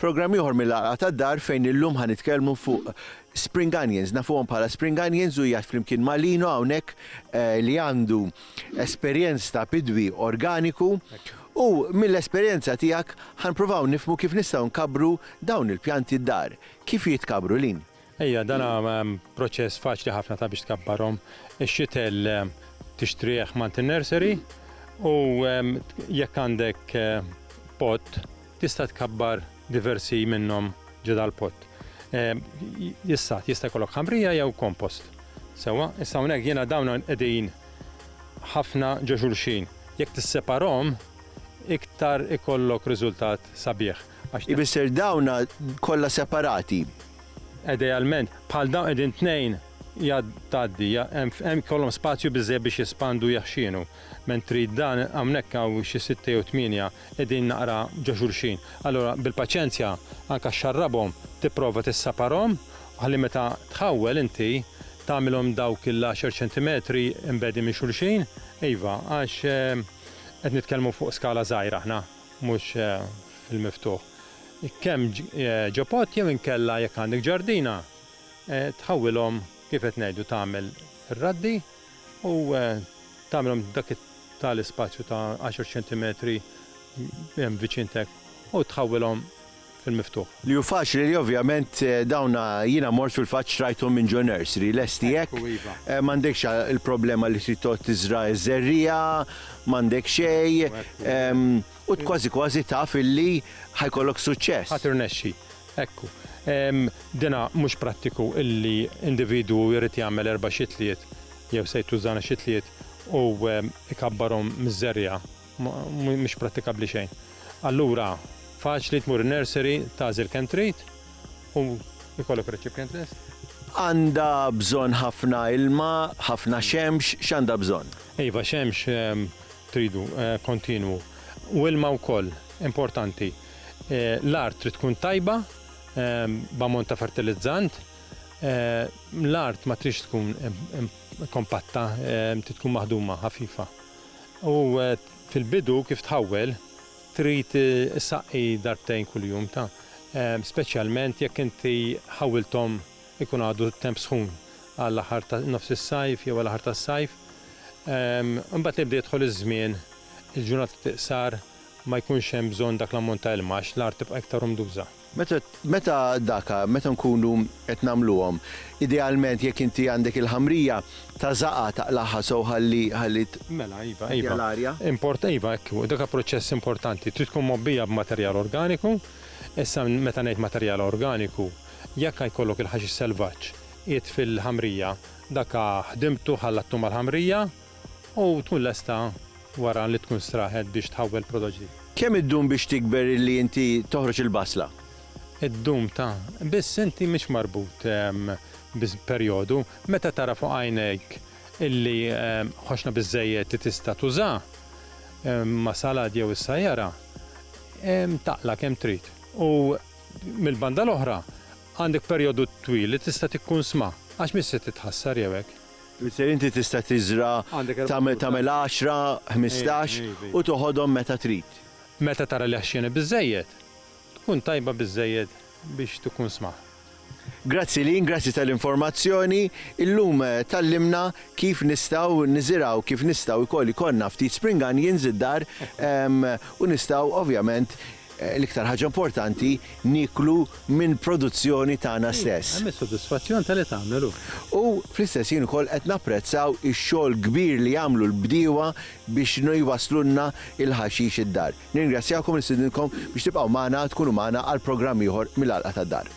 Programm ieħor mill-għalqa tad-dar fejn illum ħa nitkellmu fuq spring onions, nafuhom bħala spring onions u jgħat flimkien malino hawnhekk eh, li għandu esperjenz ta' bidwi organiku U mill-esperjenza tiegħek ħa npruvaw nifhmu kif nistgħu nkabbru dawn il-pjanti d-dar. Kif jitkabbru, Lynn? Ejja, dan hu proċess faċli ħafna ta' biex tkabbarhom. Ix-xitel tixtrih m'għand nursery u jekk għandek pot tista' tkabbar diversi minnhom ġo dal-pot. Issa, jista' jkollok ħamrija jew compost. Sewwa, issa hawnhekk jiena dawn qegħdin ħafna ġo xulxin. Jekk tisseparahom, iktar ikollok riżultat sabiħ għax. Ifisser dawn kollha separati. Idealment, bħal dawn qegħdin tnejn tgħaddi, hemm ikollhom spazju biżżejjed biex jespandu u jaħxinu. Mentri dan hawnhekk hawn xi sitta jew tmienja qegħdin naqra ġo xulxin. Allura bil-paċenzja anke xxarrabhom, tipprova tissaparhom ħalli meta tħawwel inti tagħmilhom dawk il-għaxar ċentimetri mbegħdin minn xulxin, iva, għax qed nitkellmu fuq skala żgħira aħna, mhux fil-miftuħ. Kemm ġo pott jew inkella jekk għandek ġardina, tħawwilhom kif qed ngħidu tagħmel ir-raddi u tagħmilhom dak it-tali spazju ta' għaxar ċentimetri hemm viċin tiegħek u tħawwilhom fil-miftuħ. Li hu faċli li ovvjament dawn jiena mort fil-fatt xtrajthom minn Joe Nursery, lesti hekk, m'għandekx il-problema li trid toqgħod tiżra' ż-żerriegħa, m'għandek xejn, u kważi kważi taf illi ħa jkollok suċċess. Ħa tirnexxi. Ekku, dina mhux prattiku illi individwu jrid jagħmel erba' xitliet jew sejt tużżana xitliet u jkabbarhom miż-żerriegħa. Mhux prattikabbli xejn. Allura, faċli tmur in-nursery, tagħżel kemm trid u jkollok recipient lest. Għandha bżonn ħafna ilma, ħafna xemx, x'għandha bżonn? Iva, xemx tridu kontinwu u ilma wkoll importanti. L-art trid tkun tajba b'ammont ta' fertilizzant. L-art ma tridx tkun kompatta, trid tkun maħduma ħafifa. U fil-bidu kif tħawwel trid issaqqi darbtejn kuljum, speċjalment jekk inti ħawwilthom ikun għadu t-temp sħun għal aħħar ta' nofs is-sajf jew għal aħħar tas-sajf. Imbagħad li jibda jidħol iż-żmien, il-ġurnati tiqsar ma jkunx hemm bżonn dak l-ammont ta' ilma għax l-art tibqa' iktar umduża. Meta, meta daka, meta nkunu qed nagħmluhom, idealment jekk inti għandek il-ħamrija, tażagħha, taqlagħha sew ħalli, ħalli t, Mela, iva, iva. tgħaddija l-arja. Import, iva, hekk hu, daka proċess importanti. Trid tkun mgħobbija b'materjal organiku. Issa, meta ngħid materjal organiku, jekk jkollok il-ħaxix selvaġġ qiegħed fil-ħamrija, daka ħdimtu, ħallattu mal-ħamrija, U tkun lesta wara li tkun straħet biex tħawwel prodott ġdid. Kemm iddum biex tikber illi inti toħroġ il-basla? Iddum ta'. Biss inti mhix marbut bi perjodu. Meta tara fuq għajnejk illi ħoxna biżżejjed li tista' tuża, ma' salad jew is-sajjara, taqla' kemm trid. U mill-banda l-oħra, għandek perjodu twil li tista' tikkunsma, għax mhix se titħassar jew hekk. Tfisser inti tista' tiżra' tagħmel tagħmel għaxra, ħmistax u toħodhom meta trid. Meta tara li ħxieni biżżejjed, tkun tajba biżżejjed biex tkun smaħ. Grazzi Lynn, grazzi tal-informazzjoni. Illum tgħallimna kif nistgħu niżirgħu, kif nistgħu wkoll ikollna ftit spring onions id-dar u nistgħu ovvjament L-iktar ħaġa importanti, nieklu minn produzzjoni tagħna stess. Hemm is-sodisfazzjon ta' li tagħmel hu. U fl-istess ħin ukoll qed napprezzaw ix-xogħol kbir li jagħmlu l-bdiewa biex jwasslulna l-ħaxix id-dar. Nirringrazzjakom u nistidinkom biex tibqgħu magħna, tkunu magħna għal programm ieħor mill-Għalqa tad-Dar.